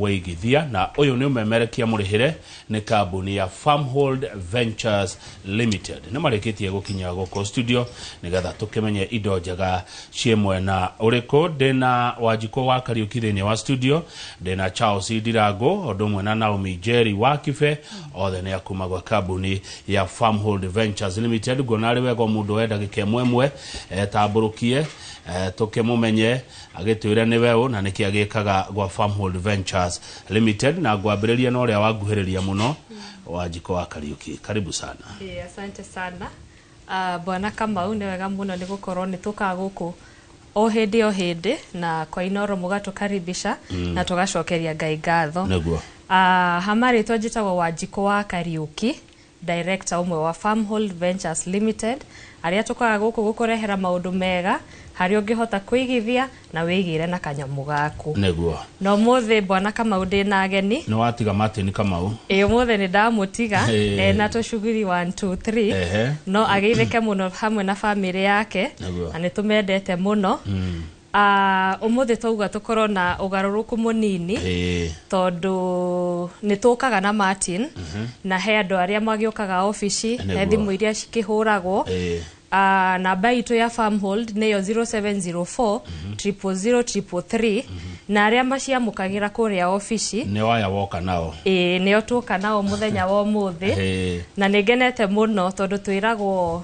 Wĩigithia na ũyũ nĩ ũmemerekia mũrĩhĩre nĩ kambuni ya Farmhold Ventures Limited. Nĩ marĩkĩtie gũkinya gũkũ studio nĩgetha tũkĩmenye indo njega ciĩ mwena ũrĩkũ. Ndĩna Wanjikũ wa Kariuki thĩinĩ wa studio, ndĩna Charles Ndirangũ ũndũ ũmwe na Naomi Njeri wa Kibe, othe nĩ akuma gwa kambuni ya Farmhold Ventures Limited. Nguona arĩ wega o mũndũ oe ndagĩka ĩmwe ĩmwe etambũrũkie, eh, tũkĩmũmenye agĩtwĩra nĩ weũ na nĩkĩ agĩkaga gwa Farmhold Ventures Limited na ngwambĩrĩria na ũrĩa wanguhĩrĩria mũno wanjiko wa Kariuki karibu sana Eh, asante sana Ah, bwana kamau nĩ wega mũno nĩ gũkorwo nĩ tũkaga gũkũ o hĩndĩ o hĩndĩ na kwa inoro mũgatũkaribisha mm. na tũgacokeria ngai ngatho Nĩguo. Ah, ha marĩtwa njĩtagwo wanjikũ wa kariũki Director ũmwe wa Farmhold Ventures Limited, arĩa tũkaga gũkũ gũkũrehera maũndũ mega harĩa ũngĩhota kwĩigithia na wĩigĩre na kanyamũ gaku. Nĩguo. Na ũmũthĩ Bwana Kamau ndĩ na ageni. Nĩ watiga Martin Kamau. Ĩ ũmũthĩ nĩ ndamũtiga Ĩ. e, na tũcuguri 1 2 3 Ehe. no agĩithĩke mũno hamwe na bamĩrĩ yake Nĩguo. na nĩ tũmendete mũno Ah, ũmũthĩ twauga tũkorwo na ũgarũrũku mũnini Ĩĩ. tondũ nĩ tũkaga na martin na he andũ arĩa magĩũkaga obici Nĩguo. he thimũ iria cikĩhũragwo Ĩĩ. Ah, namba itũ ya farmhold nĩyo 0704 00033 na arĩa maciamũkagĩra kũrĩa obici nĩ waya woka nao ĩĩ nĩo tũka nao mũthenya wa ũmũthĩ Ĩĩ. na nĩ ngenete mũno tondũ twĩragwo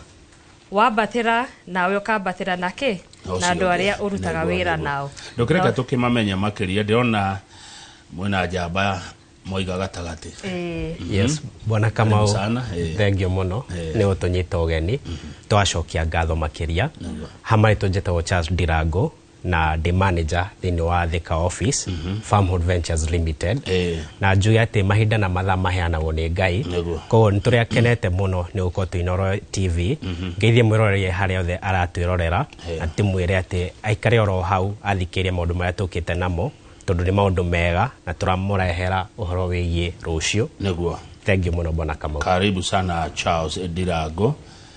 wambatĩra nawe ũkambatĩra na kĩ Acio na andũ othe, arĩa ũrutaga nĩguo, wĩra nĩguo. nao ndũkĩreka tũkĩmamenye makĩria ndĩrona mwĩna njamba moiga gatagatĩ Ĩĩ. yes bwana Karibu kamau sana, eh. thengio mũno Eh. nĩ ũtũnyita ũgeni twacokia ngatho makĩria hamarĩ tũnjĩtagwo charles ndirango na ndĩ manager thĩinĩ wa Thika office Farmhood Ventures Limited Eh. na njuge atĩ mahinda na mathaa maheanagwo nĩ Ngai Nĩguo. koguo nĩ tũrĩa kenete mũno nĩ gũkorwo twĩ Inoro TV ngeithie mwĩroreria harĩa yothe aratwĩrorera Eh. na tĩmwĩre atĩ aikare oro hau athikĩrĩrie maũndũ marĩa tũkĩte namo tondũ nĩ maũndũ mega na tũramũrehera ũhoro wĩgiĩ rũciũ nĩguo thengiũ mũno bwana Kamau karibu sana charles ndirango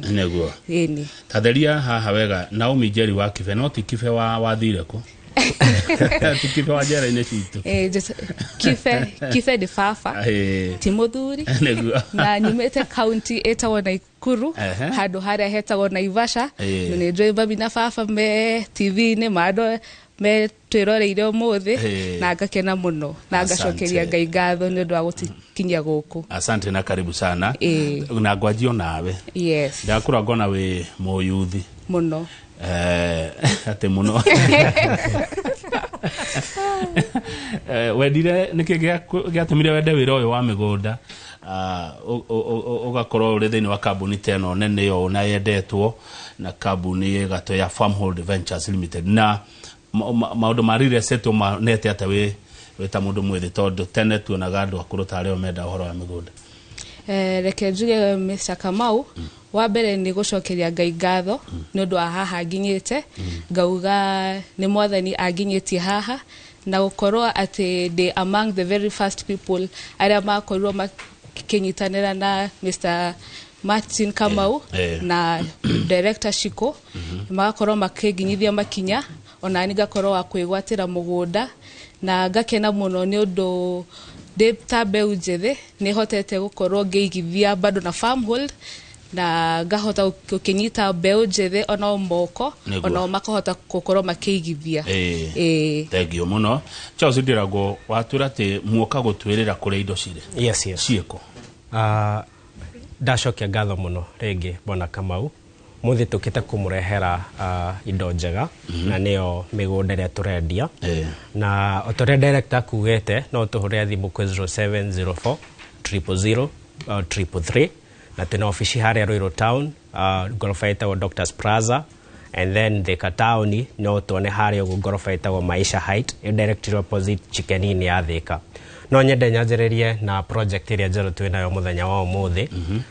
nĩguo ĩni tatheria haha wega naomi njeri wa kibe no ti kibe wa wathire kũ ti kibe wa njera-inĩ citũ Eh, just- kibe kibe ndĩ baba Ĩĩ. ti mũthuri nĩguo na nyumĩte kaunti ĩtagwo naikuru Ehe. handũ harĩa hetagwo naivasha Ĩĩ. na nĩ njũĩ mami na baba me tv-inĩ mandũ me twĩroreire ũmũthĩ Eh. na ngakena mũno na Asante. ngacokeria ngai ngatho nĩ ũndũ wa gũtikinyia gũkũ asante na karibu sana Eh. na ngwanjio nawe yes ndakura ngona wĩ mũyuthi mũno Eh, atä må no wendire nä kä gä atå mire wende wä ra å yå wa mä gå nda å gakorwo å rä thä inä wa kambuni ta ä no nene å na yendetwo na kambuni gatå ya Farmhold Ventures Limited na maundu ma real estate umanete ata wi wita mundu mwithi tondu tene tuonaga andu akuru ta ario menda uhoro wa migunda eh, reke njuge Mr Kamau mm. wa mbere ni gucokeria ngai ngatho mm. ni undu wa haha nginyite mm. ngauga ni mwathani anginyitie haha na gukorwo ati ndi among the very first people aria makorirwo makinyitanira na Mr Martin Kamau eh, eh. na director Shiko magakorwo makĩnginyithia makinya ona ni ngakorwo wa kwĩgwatĩra mũgũnda na ngakena mũno nĩ ũndũ ndĩ ta mbeũ njĩthĩ nĩ hotete gũkorwo ngĩigithia bado na farmhold na ngahota gũkĩnyita mbeũ njĩthĩ ona o moko Nĩguo. onao makahota gũkorwo makĩigithia Ĩĩ. Ĩĩ. thengio må no charles ndirago watwä ra atä muoka gå twä rä ra kå rä a indo cirä yes, yes. ciä kå Ah, ndacokia ngatho mũno rĩngĩ bwana kamau Mũthĩ tũkĩte kũmũrehera uh, indo njega mm -hmm. na nĩyo mĩgũnda ĩrĩa tũrendia yeah. na o ta ũrĩa director akuugĩte no tũhũrĩre thimũ kwĩ 0704 000 333 na twĩna obici harĩa Ruiru town uh, ngoroba ĩtagwo Doctors Plaza and then Thika town no tuone harĩa ũguo ngoroba ĩtagwo Maisha Height ĩ directly opposite chicken inn ya Thika no nyende nyanjĩrĩrie na project ĩrĩa njerũ twĩ nayo mũthenya wa ũmũthĩ mm -hmm.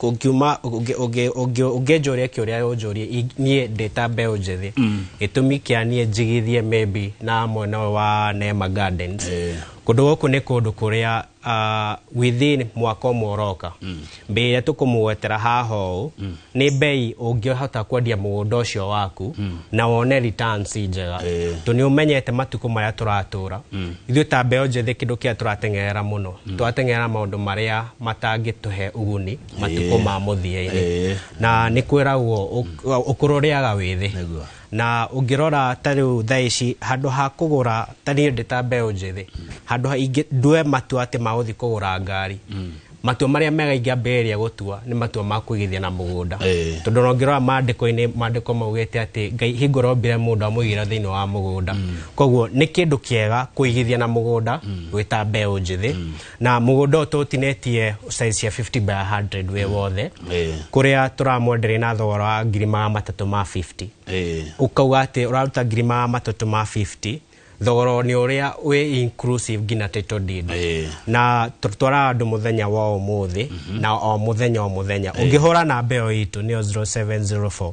ũngiuma ũngĩenja ũrĩa eke ũrĩa yonjũrie niĩ ndĩta mbeũ njĩthĩ gĩtũmi kĩa niĩ njigithie maybe na mwena ũyũ wa Neema Gardens kũndũ gũkũ nĩ kũndũ kũrĩa ah, within mwaka ũmwe ũroka mbei ĩrĩa tũkũmũgwetera haha ũũ nĩ mbei ũngĩhota kwendia mũgũnda ũcio waku na wone returns njega tondũ nĩ ũmenyete matukũ marĩa tũratũra ithuĩ ta mbeũ njĩthĩ kĩndũ kĩrĩa tũrateng'erera mũno tũrateng'erera maũndũ marĩa matangĩtũhe ũguni matukũ ma mũthia-inĩ Ĩĩ. na nĩ kwĩragwo ũkũrũ rĩaga wĩthĩ Nĩguo. na ũngĩrora ta rĩu thaa ici handũ ha kũgũra ta niĩ ndĩ ta mbeũ njĩthĩ handũ ha ingĩ ndue matua atĩ magũthiĩ kũgũra ngari matua marĩa mega ingĩambĩrĩria gũtua nĩ matua ma kũigithia na mũgũnda Ĩĩ. tondũ ona ũngĩrora maandĩko-inĩ maandĩko maugĩte atĩ ngai hingo rombire mũndũ amũigĩra thĩinĩ wa mũgũnda koguo nĩ kĩndũ kĩega kũigithia na mũgũnda wĩ ta mbeũ njĩthĩ na må gå nda å tå tinetie size cia 50 by 100 wä wothe Eh. kå rä a tå ramwenderä na thogora wa ngiri maga matatå ma 50 Eh. å kauga atä å raruta ngiri maga matatå ma 50 thogora nä å rä a wä inclusive nginya title deed Eh. na tũtwaraga andũ mũthenya wa ũmũthĩ na o mũthenya o mũthenya ũngĩhũra namba ĩyo itũ nĩyo 0704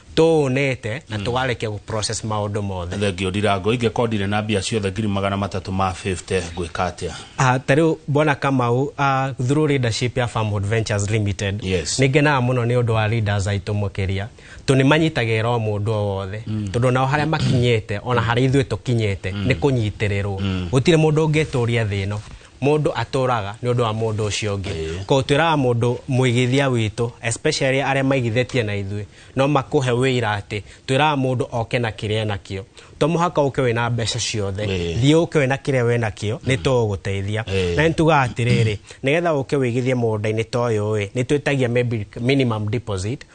tũũnĩte na mm. tũgarĩkia gũ process maũndũ mothe thengio ndirango ingĩkorwo ndirĩ na mbia ciothe ngiri magana matatũ ma 50 ngwĩka atĩa ah, ta rĩu mbona kamau uh, ah, through leadership ya farmwood ventures limited yes. nĩ ngenaga mũno nĩ ũndũ wa leaders aitũ mũkĩria tondũ nĩ manyitagĩrĩra o mũndũ o wothe mm. tondũ nao harĩa makinyĩte ona harĩa ithuĩ tũkinyĩte mm. nĩ kũnyitĩrĩrwo gũtirĩ mũndũ ũngĩtũria thĩ ĩno mũndũ atũraga nĩ ũndũ wa mũndũ ũcio ũngĩ Ĩĩ. koguo twĩraga mũndũ mũigithia witũ especially arĩa maigithĩtie na ithuĩ no makũhe wĩira atĩ twĩraga mũndũ oke na kĩrĩa enakĩo to mũhaka ũke wĩna mbeca ciothe Ĩĩ. thiĩ ũke wĩna kĩrĩa wenakĩo nĩ tũgũgũteithia Ĩĩ. na nĩ tugaga atĩrĩrĩ nĩgetha ũke wĩigithie mũgũnda-inĩ ta ũyũ ĩ nĩ twĩtagia maybe minimum deposit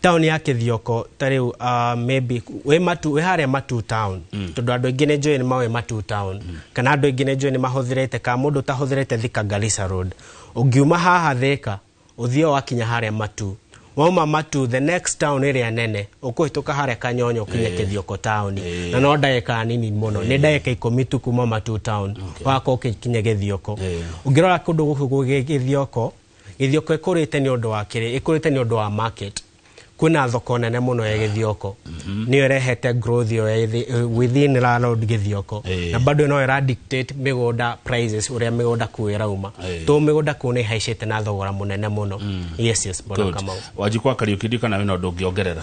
taũni ya kĩthioko ta rĩu uh, maybe wĩ matu wĩ harĩa matu town mm. tondũ andũ aingĩ nĩ njũĩ nĩ maũĩ matu town mm. kana andũ aingĩ nĩ njũĩ nĩ mahũthĩrĩte kana mũndũ ũtahũthĩrĩte thika garissa road ũngiuma haha thĩka ũthiĩ wakinya harĩa matu wauma matu the next town ĩrĩa nene ũkũhĩtũka harĩa kanyonyo ũkinye kĩthioko taũni na no ndagĩka nini mũno nĩ ndagĩka ikũmi tu kuma matu town wako ũkikinye gĩthioko ũngĩrora kũndũ gũkũ gwĩ gĩthioko Gĩthioko ĩkũrĩte nĩ ũndũ wa kĩrĩ ĩkũrĩte nĩ ũndũ wa market kwĩna thoko nene muno ya gĩthioko mhm. niyo ĩrehete growth yo within landlord gĩthioko na bado no ĩra dictate mĩgũnda prices ũrĩa mĩgũnda kuu ĩrauma to mĩgũnda kuu nĩ haicĩte na thogora munene muno mm. yes yes bona kamau wanjikwa kariuki ndikana wĩna ũndũ ũngĩongerera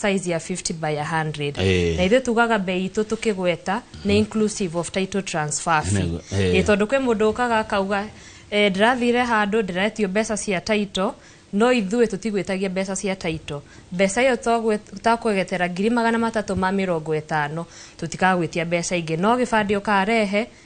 size ya 50 by 100 Eh. na ithuĩ tugaga mbei itũ tũkĩgweta nĩ inclusive of title transfer fee Nego- eh. Eh, tondũ kwĩ mũndũ ũkaga akauga eh, ndĩrathire handũ ndĩretio mbeca cia title no ithuĩ tũtigwĩtagia mbeca cia title mbeca ĩyo twagwĩ- takwegetera ngiri magana matatũ ma mĩrongo ĩtano tũtikagwĩtia mbeca ingĩ no gĩbandĩ ũkarehe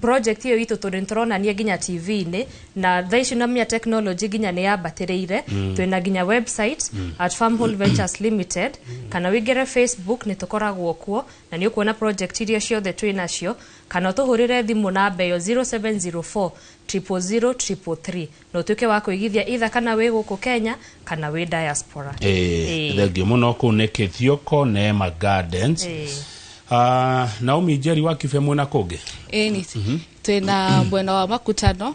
project ĩyo itũ tondũ nĩtũronania nginya tv-inĩ na thaa ici namia technology nginya nĩ yambatĩrĩire twĩna nginya website at farm Hall ventures limited kana wĩingĩre facebook nĩ tũkoragwo kuo na nĩ ũkuona project iria ciothe twĩ nacio kana ũtũhũrĩre thimũ namba ĩyo 0704 000 333 no tuĩke wa kũigithia itha kana wĩ gũkũ kenya kana wĩ diaspora Eh, Eh. thengiũ mũno kũu nĩ kĩthioko neema gardens Eh. Ah, naomi njeri wa kibe mwĩna kũngĩ Ĩni, twĩna mwena wa makutano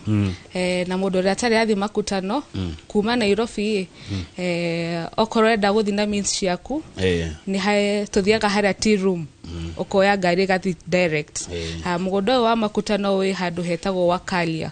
eh, na mũndũ ũrĩa atarĩ athiĩ makutano kuma nairobi eh, okorwo enda gũthiĩ na means ciaku Eh, nĩ hae tũthiaga harĩa tea room ũkoya ngari ĩgathiĩ direct Eh. Ah, mũgũnda ũyũ wa makutano wĩ handũ hetagwo wakalia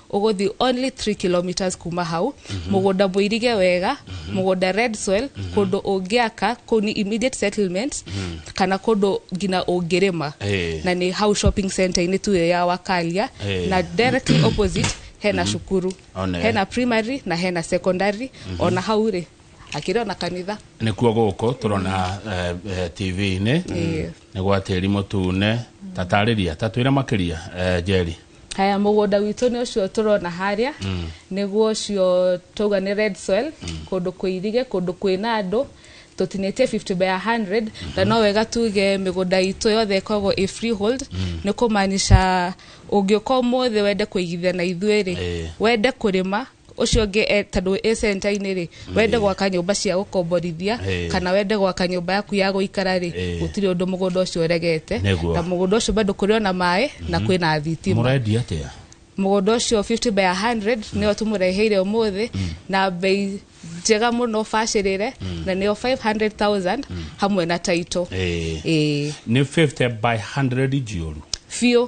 ũgũthi only 3 kilometers kuma hau mũgũnda mũirige wega mũgũnda red soil kũndũ ũngĩaka kũu ni immediate settlement kana kũndũ ngina ũngĩrĩma Eh. na nĩ hau shopping center inĩ tu ĩyo ya wakalia Eh. na directly opposite hena cukuru Ona. hena primary na hena secondary ona hau rĩ akĩrĩ ona kanitha nikuo gũkũ tũrona eh, eh, tv-inĩ Yes. nĩ gwa tĩri mũtune tatarĩria tatwĩre makĩria eh, njeri haya mũgũnda witũ nĩ ũcio tũrona harĩa nĩguo ũcio twauga nĩ red soil kũndũ kwĩ irige kũndũ kwĩna andũ tũtinĩtie 50 by 100 na no wega tuge mĩgũnda itũ yothe ĩkoragwo ĩ freehold nĩ kũmaanisha ũngĩũka ũmũthĩ wende kũigithia na ithuĩ-rĩ Eh. wende kũrĩma ucio ngi e- tondu i center ini ri wende gwaka nyumba cia gukomborithia Eh. kana wende gwaka nyumba yaku ya guikara ri Eh. gutiri undu mugunda ucio uregete Nĩguo. na mugunda ucio bado kuri ona maĩ na kwi na thitima mũrendia atĩa mugunda ucio 50 by 100 nio tumureheire umuthi na bei njega muno bacirire na nio 500000 hamwe na title Eh. eh nĩ 50 by 100 njioru biũ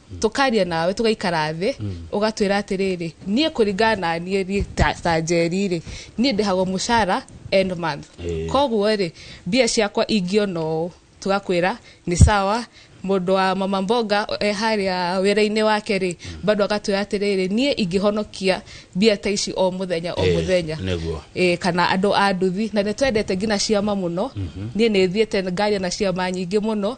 tũkaria nawe tũgaikara thĩ ũgatwĩra atĩrĩrĩ niĩ kũringana na niĩ niĩ ta- ta njeri rĩ niĩ ndĩhagwo mũcara end month Ĩĩ. koguo rĩ mbia ciakwa ingĩona ũũ tũgakwĩra nĩ sawa mũndũ wa mama mboga e harĩa wĩra-inĩ wake rĩ bado agatwĩra atĩrĩrĩ niĩ ingĩhonokia mbia ta ici o mũthenya o Ĩĩ, mũthenya nĩguo. e, kana andũ a nduthi na nĩ twendete nginya ciama mũno niĩ nĩ thiĩte ngaria na ciama nyingĩ mũno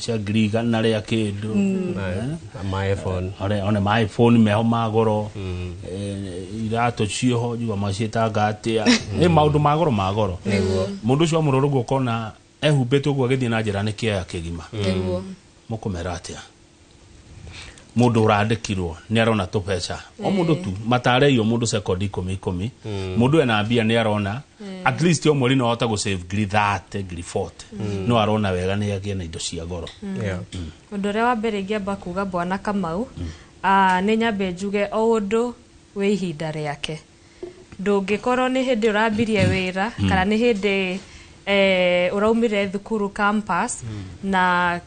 cia ngiri igana rĩa kĩndũ Eh, ma iphone one one ma iphone meho ma goro Eh, iratũ cioho njigua maciĩtanga atĩa nĩ maũndũ ma goro ma goro mũndũ ũcio wamũrora ũguo ũkona ehumbĩte ũguo agĩthiĩ na njĩra nĩ kĩaya kĩgima nĩguo mũkũmera atĩa mundu urandikirwo ni arona tubeca o mundu tu matareirio mundu second ikumi ikumi mundu ena mbia ni arona at least o mweri no ahote gu save ngiri 30 ngiri 40 no arona wega ni agie na indo cia goro Yeah. undu uria wa mbere ingiamba kuga bwana kamau ah, ni nyambe njuge o undu wi ihinda riake ndũngĩkorwo nĩ hĩndĩ ũrambirie wĩra mm. kana nĩ hĩndĩ eh, ũraumire thukuru campus mm. na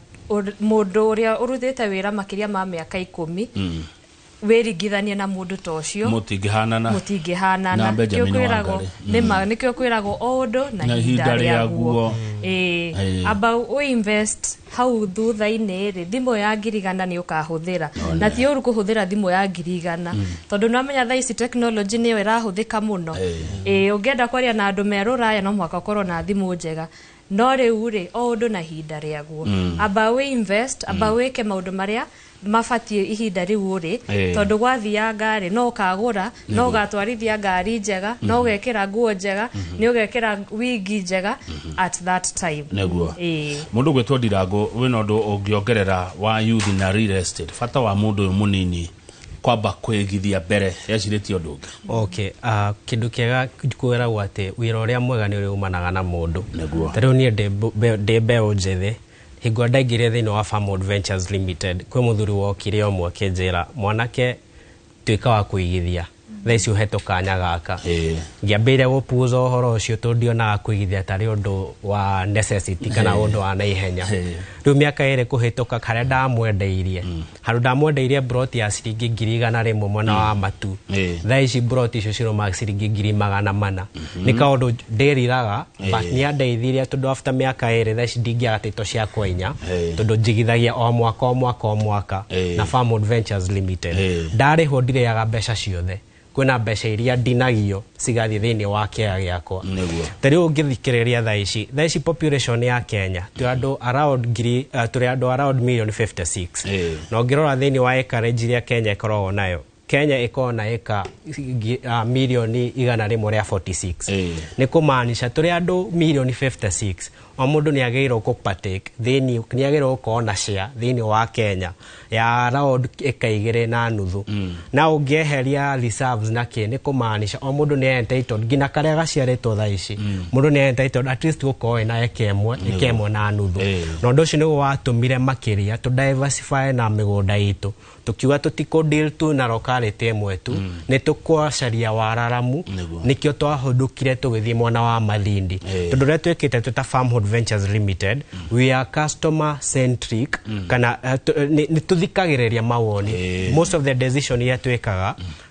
mũndũ ũrĩa ũruthĩte wĩra makĩria ma mĩaka ikũmi mm. wĩringithanie na mũndũ ta ũcio mũtingĩhanana mũtingĩhanana nĩkĩo kwĩragwo nĩma mm. nĩkĩo kwĩragwo o ũndũ na ihinda rĩaguo amba u invest hau thutha-inĩ-rĩ thimũ ya ngiri igana nĩ ũkahũthĩra na ti ũru kũhũthĩra thimũ ya ngiri igana tondũ nĩwamenya thaa ici tekinoronjĩ nĩyo ĩrahũthĩka mũno ĩĩ ũngĩenda kwaria na andũ me rũraya no mũhaka ũkorwo na thimũ njega no rĩu-rĩ o ũndũ na ihinda rĩaguo amba wĩ invest amba wĩke maũndũ marĩa mabatiĩ ihinda rĩu ũrĩ Eh. tondũ gwathianga ngarĩ no ũkagũra no ũgatwarithia ngari njega no ũgekĩra nguo njega nĩ ũgekĩra wigi njega at that time nĩguo Ĩĩ. mũndũ gwĩtwo ndirangũ wĩna ũndũ ũngĩongerera wa youth na real estate bata wa mũndũ ũyũ mũnini kwamba kwĩgithia mbere ecirĩtie ũndũ ũngĩ okay uh, kĩndũ kĩega kwĩragwo atĩ wĩra ũrĩa mwega nĩ ũrĩumanaga na mũndũ Nĩguo. tarĩu niĩ ndĩ mbu- mbe- ndĩ mbeũ njĩthĩ Hingo ndaingĩrire thĩinĩ wa Farmwood Ventures Limited, kwĩ mũthuri wokire ũmwe akĩnjĩra, mwanake tuĩka wa kũigithia, thaa ici ũhetwo kanya gaka. Ĩĩ. Ngĩambĩrĩria gũpuuza ũhoro ũcio tondũ ndionaga kũigithia tarĩ ũndũ wa necessity kana ũndũ wa naihenya. Ĩĩ. Rĩu mĩaka ĩrĩ kũhĩtũka, karĩa ndamwendeirie, handå ndamwendeire mburoti ya ciringi ngiri igana rä mwe mwena wa matu Eh. thaa ici mburoti icio ciroma ciringi ngiri magana mana nä kaåndå ndäriraga nä andeithirie tondå afta mä aka ä rä thaa ici ndingäaga tä to cia kwenya Eh. tondå njigithagia o mwaka o mwaka o mwaka Eh. na Farm Adventures Limited Eh. ndarä ho ndireaga mbeca ciothe kwĩna mbeca iria ndinagio cigathiĩ thĩinĩ wa kĩaga gĩakwa Nĩguo. ta rĩu ũngĩthikĩrĩria thaa ici thaa ici population ya kenya tũrĩ andũ around ngiri uh, tũrĩ andũ around million 56 Ĩĩ. na ũngĩrora thĩinĩ wa acreage iria kenya ĩkoragwo nayo kenya ĩkoragwo na ĩka ngi- ah, milioni igana rĩmwe rĩa 46 Ĩĩ. nĩ kũmaanisha tũrĩ andũ milioni 56 O mũndũ nĩ agĩrĩirwo kũ partake thĩinĩ nĩ agĩrĩirwo gũkorwo na share thĩinĩ wa Kenya ya round ĩka igĩrĩ na nuthu na ũngĩeheria reserves na kĩ nĩ kũmaanisha o mũndũ nĩ e entitled nginya karĩa gaciarĩtwo thaa ici mũndũ nĩ e entitled at least gũkorwo ena eka ĩmwe eka ĩmwe na nuthu Eh. na ũndũ ũcio nĩguo watũmire makĩria tũ diversify na mĩgũnda itũ tũkiuga tũtikũ deal tu na locality ĩmwe tu mm. nĩ tũkwacaria wararamu Nĩguo. nĩkĩo twahũndũkire tũgĩthiĩ mwena wa mathindi Eh. tondũ ũrĩa twĩkĩte twĩta farmhold ventures limited we are customer centric kana eh, tũ- eh, nĩ nĩ tũthikagĩrĩria mawoni Eh. most of the decision iria twĩkaga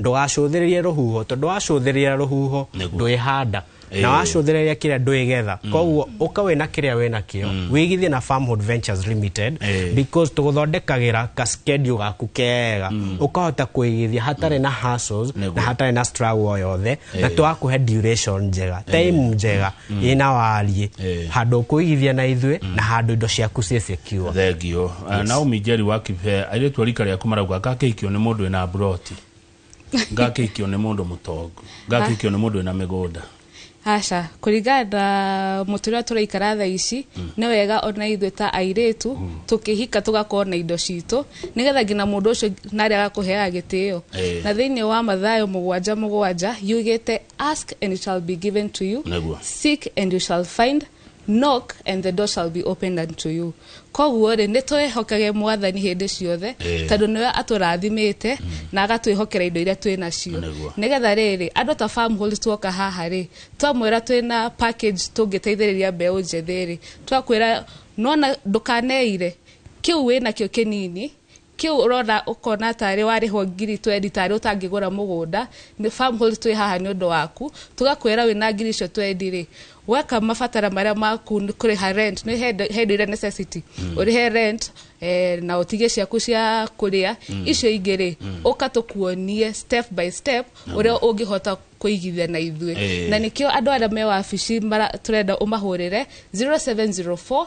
ndũgacũthĩrĩrie rũhuho tondũ wacũthĩrĩria rũhuho Nĩguo. ndwĩhanda Ĩĩ. na wacũthĩrĩria kĩrĩa ndwĩgetha koguo ũka wĩna kĩrĩa wĩna kĩo wĩigithie na Farmhood Ventures Limited Ĩĩ. because tũgũthondekagĩra ka schedule gaku kega ũkahota kũigithia hatarĩ na hassles Nĩguo. na hatarĩ na struggle o yothe na Ĩĩ. twakũhe duration njega time njega ĩ na wariĩ Eh. handũ ũkũigithia na ithuĩ na handũ indo ciaku ciĩ secure thengio yes. naomi njeri wa kibe airĩtu a rika rĩaku marauga ngakĩikio nĩ mũndũ wĩna mburoti ngakĩikio nĩ mũndũ mũtongu ngakĩikio nĩ mũndũ wĩna mĩgũnda aca kũringana na mũtũrĩre tũraikara tha ici nĩ wega ona ithuĩ ta airĩtu tũkĩhika tũgakorwo na indo citũ nĩgetha nginya mũndũ ũcio narĩ agakũheaga gĩtĩo Eh. na thĩinĩ wa mathayo mũgwanja mũgwanja yugĩte Ask and it shall be given to you. Nĩguo. Seek and you shall find. Knock and the door shall be opened unto you. Koguo rĩ nĩ twĩhokage mwathani hĩndĩ ciothe Ĩĩ. tondũ nĩwe atũrathimĩte na agatwĩhokera indo iria twĩ nacio Nĩguo. nĩgetha rĩrĩ andũ ta farm hold tuoka haha rĩ twamwĩra twĩna package tũngĩteithĩrĩria mbeũ njĩthĩ rĩ twakwĩra nona ndũkaneire kĩu wĩnakĩo kĩnini Kĩu ũrona ũkona tarĩ warĩhwo ngiri twendi tarĩ ũtangĩgũra mũgũnda, farm hold twĩ haha nĩ ũndũ waku, tũgakwĩra wĩna ngiri icio twendi rĩ, weka mabatara marĩa maku nĩ kũrĩha rent, nĩ he indo he indo iria necessity, ũrĩhe rent, eh, na ũtige ciaku cia kũrĩa, icio ingĩ rĩ, ũka tũkuonie step by step ũrĩa ũngĩhota kũigithia na ithuĩ. Eh. Na nĩkĩo andũ arĩa me wabici mara- tũrenda ũmahũrĩre 0704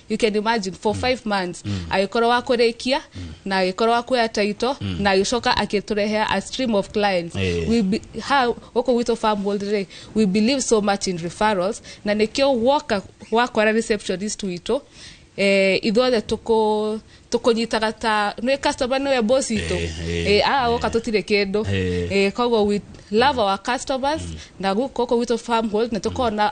you can imagine for five months agĩkorwo wa kũrĩkia na agĩkorwo wa kuoya taito na agĩcoka akĩtũrehea a stream of clients Eh. we be, ha gũkũ gwitũ farm world rĩ we believe so much in referrals na nĩkĩo woka wakora receptionist witũ eh, ithuothe tũkũ tũkũnyitaga ta nĩ customer nĩwe boss itũ Eh, eh, eh, aa woka tũtirĩ kĩndũ Eh. eh, koguo we love our customers na gũkũ gwitũ farm world na tũkorwo na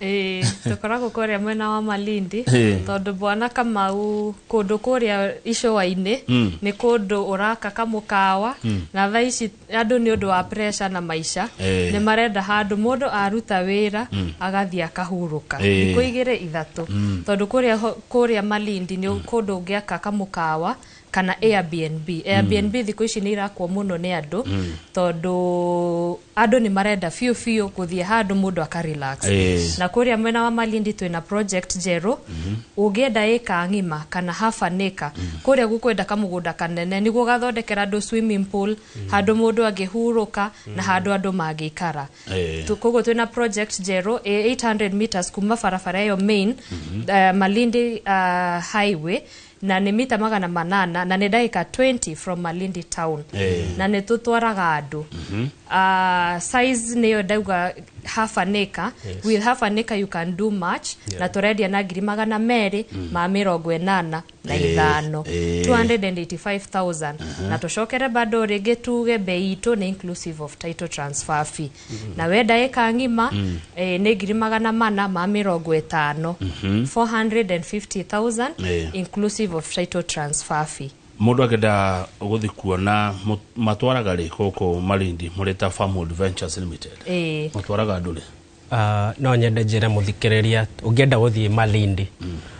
Ĩĩ, tũkoragwo kũrĩa mwena wa malindi Ĩĩ. tondũ bwana kamau kũndũ kũrĩa icũa-inĩ nĩ kũndũ ũraka kamũkawa na thaa ici andũ nĩ ũndũ wa pressure na maica Ĩĩ. nĩ marenda handũ mũndũ aruta wĩra agathiĩ akahurũka Ĩĩ. thikũ igĩrĩ ithatũ tondũ kũrĩa ho- kũrĩa malindi nĩ kũndũ ũngĩaka kamũkawa kana Airbnb. Airbnb thikũ ici nĩ irakwo mũno nĩ andũ tondũ andũ nĩ marenda biũ biũ gũthiĩ handũ mũndũ aka relax. Yes. Na kũrĩa mwena wa Malindi twĩna project njerũ ũngĩenda ĩka ng'ima kana half an acre kũrĩa gũkwenda kamũgũnda kanene nĩguo ũgathondekera andũ swimming pool handũ mũndũ angĩhurũka na handũ andũ mangĩikara. Eh. Tu- koguo twĩna project njerũ ĩ 800 meters kuma barabara ĩyo main eh, Malindi ah, highway na nĩ mita magana manana na nĩ ndagĩka 20 from malindi town Eh. na nĩ tũtwaraga andũ Ah, size nĩyo ndauga half an acre Yes. with half an acre you can do much Yeah. na tũrendia na ngiri magana merĩ ma mĩrongo ĩnana na Eh, ithano eh. 285000 na tũcokere bado rĩngĩ tuge bei itũ nĩ inclusive of title transfer fee na we ndagĩka ng'ima eh, nĩ ngiri magana mana ma mĩrongo ĩtano 450,000 Eh. inclusive of title transfer fee mundu akenda guthi kuona mu- matwaraga ri guku marindi muri ta farm adventures limited Eh, matwaraga andu ri Ah, no nyende njĩre mũthikĩrĩria ũngĩenda gũthiĩ malindi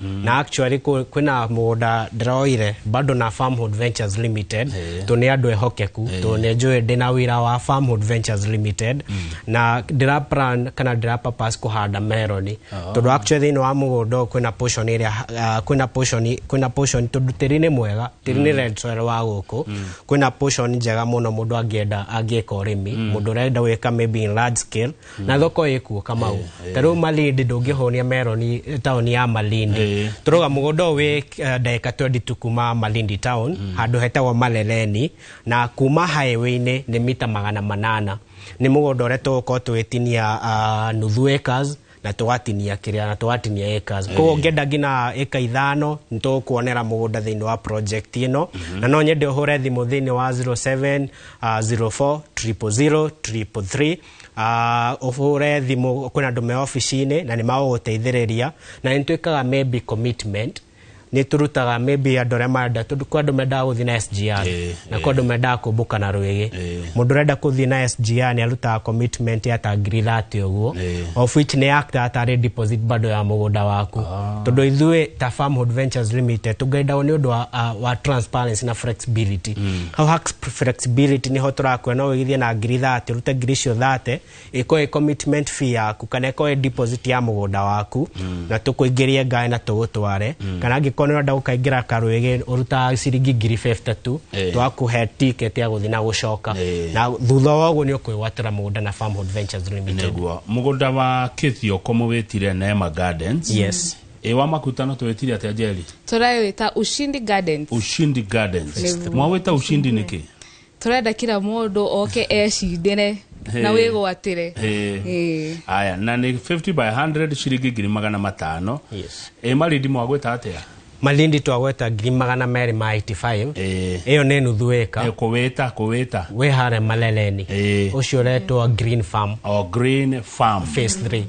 Mm. na actually kũ- kwĩna mũgũnda ndĩroire bado na farmhood ventures limited Eh. tũ nĩ andũ ehokeku tũ nĩ njũĩ ndĩna wĩra wa farmhood ventures limited na ndĩra plan kana ndĩra purpose kũhanda meroni tondũ actually thĩinĩ wa mũgũnda ũyũ kwĩna portion ĩrĩa ah, kwĩna portion kwĩna portion tondũ tĩri nĩ mwega tĩri nĩ red soil wa gũkũ kwĩna portion njega mũno mũndũ angĩenda angĩka ũrĩmi mũndũ ũrenda gwĩka maybe in large scale na thoko ĩkuo kamau ta rĩu malindi ndũngĩhũnia meroni eh, taoni ya malindi Eh. tũrauga mũgũnda ũyũ wĩ eh, ndagĩka 20 tu kuma malindi town handũ hetagwo maleleni na kuma highway-inĩ nĩ mita magana manana nĩ mũgũnda ũrĩa tũgũkorwo tũgĩtinia ah, nuthu acres na tũgatinia kĩrĩa na tũgatinia acres koguo ngĩenda nginya ĩka ithano nĩ tũgũkuonera mũgũnda thĩinĩ wa project ĩno na no nyende ũhũre thimũ thĩinĩ wa 07 ah, 04 000 333 Ah, ũhũre thimũ kwĩna andũ me obici-inĩ na nĩ magũgũteithĩrĩria na nĩ twĩkaga maybe commitment nĩ tũrutaga maybe andũ arĩa marenda tondũ kwĩ andũ mendaga gũthiĩ na SGR Eh, na kwĩ andũ mendaga kũmbũka na rwĩgĩ Eh. mũndũ ũrenda kũthiĩ na SGR nĩ arutaga commitment ya ta ngiri thate ũguo Eh. of which nĩ yaktaga tarĩ deposit bado ya mũgũnda waku tondũ ithuĩ ta farmhood ventures limited tũngenda nĩ ũndũ wa, ah, wa transparency na flexibility Hau ha flexibility niho tũrakuona no wĩgithie na ngiri 30 rute ngiri icio 30 ĩkorwo ĩ commitment fee yaku kana ĩkorwo ĩ deposit ya mũgũnda waku mm. na tũkũingĩrie ngaĩ na tũgũtware mm. kana angĩkorwo nĩ ũrenda gũkaingĩra karwĩgĩ ũrutaga ciringi ngiri 50 tu hey. Eh. twakũhe ticket ya gũthiĩ na gũcoka hey. Eh. na thutha wa ũguo nĩ ũkwĩgwatĩra mũgũnda na Farmhold Ventures Limited nĩguo mũgũnda wa Kĩthioko mũwĩtire Neema Gardens yes ĩ wa makutano twĩtire atĩa njeri tũrawĩta ushindi gardens ushindi gardens Nĩguo. mwawĩta ushindi nĩkĩ tũrenda kira mũndũ oke ecindĩre na Hey. wĩgwatĩre Ĩ. Ĩ. aya na nĩ 50 by 100 ciringi ngiri magana matano Yes. ĩ marindi mwagwĩta atĩa malindi twagweta ngiri magana merĩ ma 85 Ĩ. ĩyo nĩ nuthu Ĩ, ĩka kũwĩta kũwĩta wĩ harĩa maleleni Ĩ. ũcio ũretwo green farm o green farm phase 3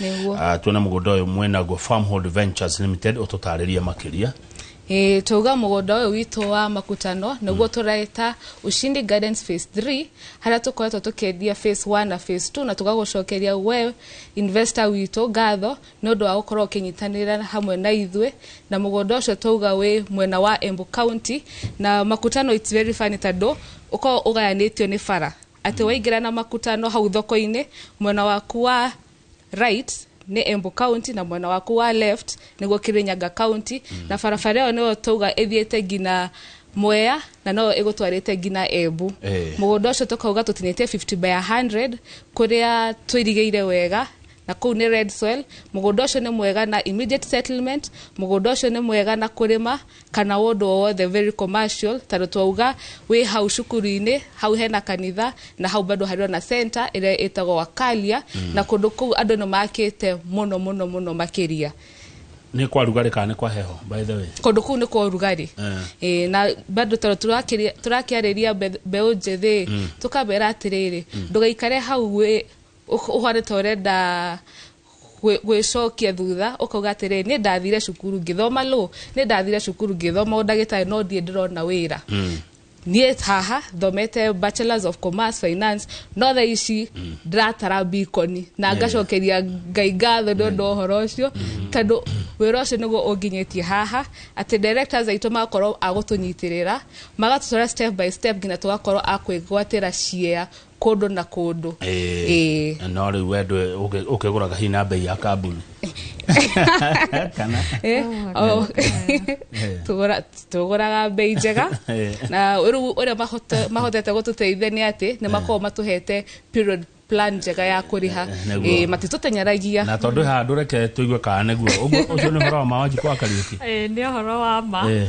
Nĩguo. Ah, tuone mũgũnda ũyũ mwenagwo Farmhold Ventures Limited ũtũtarĩrie makĩria Eh, twauga mũgũnda ũyũ witũ wa makutano nĩguo tũreta ushindi gardens phase 3 harĩa tũkoretwo tũkĩendia phase 1 na phase 2 na tũgagũcokeria we investor witũ ngatho nĩ ũndũ wa gũkorwo ũkĩnyitanĩra hamwe na ithuĩ na mũgũnda ũcio twauga wĩ mwena wa embu county na makutano it's very funny tondũ ũkoragwo ũgayanĩtio nĩ bara atĩ waingĩra na makutano hau thoko-inĩ mwena waku wa right nĩ Embu County na mwena waku wa left nĩguo Kirinyaga County na barabara ĩyo nĩyo twauga ĩthiĩte nginya Mwea na no ĩgũtwarĩte nginya Embu Eh. mũgũnda ũcio tũkauga tũtinĩtie 50 by 100 kũrĩa tũirigĩire wega na kũu nĩ red soil mũgũnda ũcio nĩ mwega na immediate settlement mũgũnda ũcio nĩ mwega na kũrĩma kana ũndũ o wothe very commercial tondũ twauga wĩ hau cukuru-inĩ hau hena kanitha na hau bado harĩ ona center ĩrĩa ĩtagwo wakalia na kũndũ kũu andũ nĩ makĩte mũno mũno mũno makĩria nä kwa rugarä kana nä kwa heho by the way kũndũ kũu nĩ kwa ũrugarĩ Eh. Ĩĩ, na bado tondũ tũrakĩria- tũrakĩarĩria mbe- mbeũ njĩthĩ tũkamera atĩrĩrĩ ndũgaikare hau wĩ- ũh- ũhane ta ũrenda gwĩcokia thutha ũkauga atĩrĩ nĩ ndathire cukuru ngĩthoma lũ nĩ ndathire cukuru ngĩthoma ũndagĩtarĩ no ndiĩ ndĩrona wĩra mm. niĩ haha thomete bachelors of commerce finance no tha ici mm. ndĩratara bikoni na mm. ngacokeria ngai ngatho nĩ ũndũ ũhoro ũcio tondũ wĩra ũcio nĩguo ũnginyĩtie haha atĩ directors aitũ magakorwo agũtũnyitĩrĩra magatũtwara step by step nginya tũgakorwo akwĩgwatĩra ciea kũndũ na kũndũ Ĩĩ. Ĩĩ. no rĩu we ndwe- ũkĩ- ũkĩgũraga hihi na mbei ya kambuni kana Eh, oh. Tũgũra- tũgũraga mbei njega Eh. na rĩu ũrĩa mahote- mahotete gũtũteithia nĩ atĩ nĩ makoragwo matũhete period plan njega ya kũrĩha Nĩguo. Eh, matitũteng'eragia na tondå haha ndå reke tå igue kana nä guo å cio nä å horo wa mawanji kwa kariuki Eh, nä å horo wa ma Eh.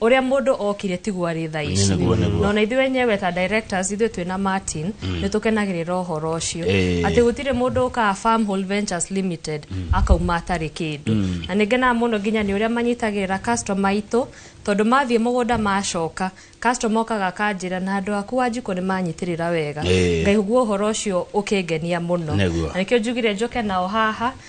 ũrĩa mũndũ okire tiguo arĩ thaa ici Nĩguo, nĩguo. na ona ithuĩ wenyewe ta directors ithuĩ twĩ na martin nĩ tũkenagĩrĩra ũhoro ũcio Eh. atĩ gũtirĩ mũndũ ũkaga farm whole ventures limited akauma atarĩ kĩndũ na nĩ ngenaga mũno nginya nĩ ũrĩa manyitagĩrĩra customer aitũ tondũ mathiĩ mũgũnda macoka customer okaga akanjĩra na andũ aku wanjikũ nĩ manyitĩrĩra wega Eh. ngaigua ũhoro ũcio ũkĩngenia mũno Nĩguo. na nĩkĩo njugire njoke nao haha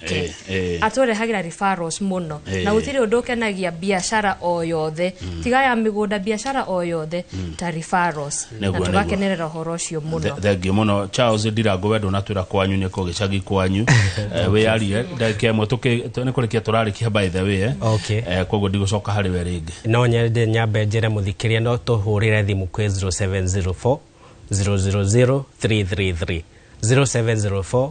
Eh, eh. atũrehagĩra referrals mũno Eh. na gũtirĩ ũndũ ũkenagia biacara o yothe tiga ya mĩgũnda biacara o yothe ta referrals na Nĩguo, nĩguo. tũgakenerera ũhoro ũcio Th- mũno thengiå må no charles ndirango wendo na twä ra kwanyu nä kå gä cagi kwanyu wä yarire ndagä ä mwe nä kå rä kia tå rarä kia by the way eh. Okay. Eh, koguo ndigå coka harä we rä ngä no nyende nyambe njĩre mũthikĩria no tũhũrĩre thimũ kwĩ 0704 000 333 0704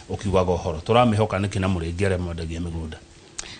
ũkiugaga ũhoro tũramĩhoka nĩkĩ na mũrĩngĩ arĩa mwendagia mĩgũnda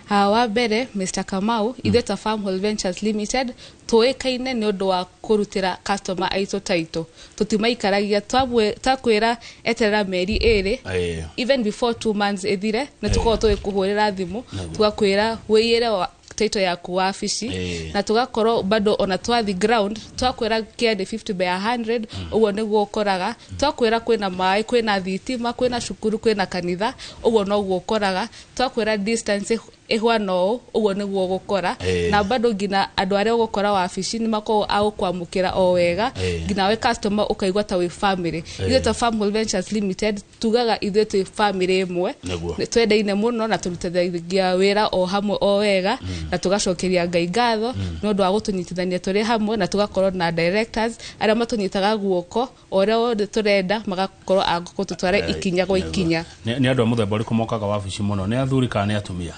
Ah, wa mbere mr kamau ithuĩ ta farm Hall ventures limited tũĩkaine nĩ ũndũ wa kũrutĩra customer aitũ taitũ tũtimaikaragia twamwĩ- twakwĩra eterera mĩeri ĩrĩ Ĩĩ. even before two months ĩthire nĩ tũkorwo tũgĩkũhũrĩra thimũ tugakwĩra wĩyĩre wa- title yaku wabici Eh. na tugakorwo bado ona twathi ground twakwira kia ni 50 by 100 uguo niguo ukoraga twakwira kwina maĩ kwina thitima kwina cukuru kwina kanitha uguo noguo ukoraga twakwira distance ih- ihwana ũũ uguo niguo gukora Eh. na bado ngina andå arä a ågåkora wabici nä makorwo agå kwamå kä ra o wega Eh. ngina we customer å kaigua ta wä family ithuä ta Farm Hall Ventures limited tugaga ithuĩ twĩ bamĩrĩ ĩmwe Nĩguo. Nĩ twendaine mũno na tũrutithagia wĩra o hamwe o wega na tũgacokeria ngai ngatho nĩ ũndũ wa gũtũnyitithania tũrĩ hamwe na tũgakorwo na directors arĩa matũnyitaga guoko o ũrĩa wothe tũrenda magakorwo a gũtũtwara ikinya gwa ikinya Nĩ nĩ andũ a mũthemba ũrĩkũ mokaga wabici mũno nĩ athuri kana nĩ atumia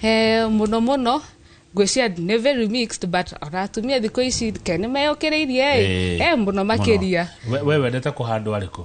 Eh, mũno mũno ngwĩcia nĩ very mixed but ona atumia thikũ ici ke nĩ meyũkĩrĩirie Ĩĩ. ĩ Eh, mũno makĩria Mũno. We- we wendete kũhandwo arĩkũ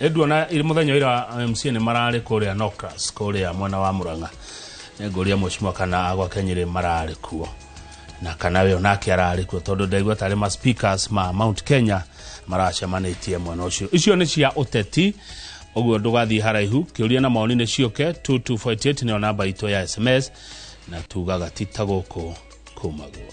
nduona muthenya ira mc ni marari kuria nocras kuria mwena wa muranga nguria mweshimwa kana agwa kenyiri marari kuo na kana we onake arari kuo tondu ndaigua tari ma speakers ma mount kenya maracemanitie mwena ucio icio ni cia uteti uguo ndugathii haraihu kiuria na maoni ni ciuke 2248 niyo namba itu ya sms na tugaga ti ta guku kumaguo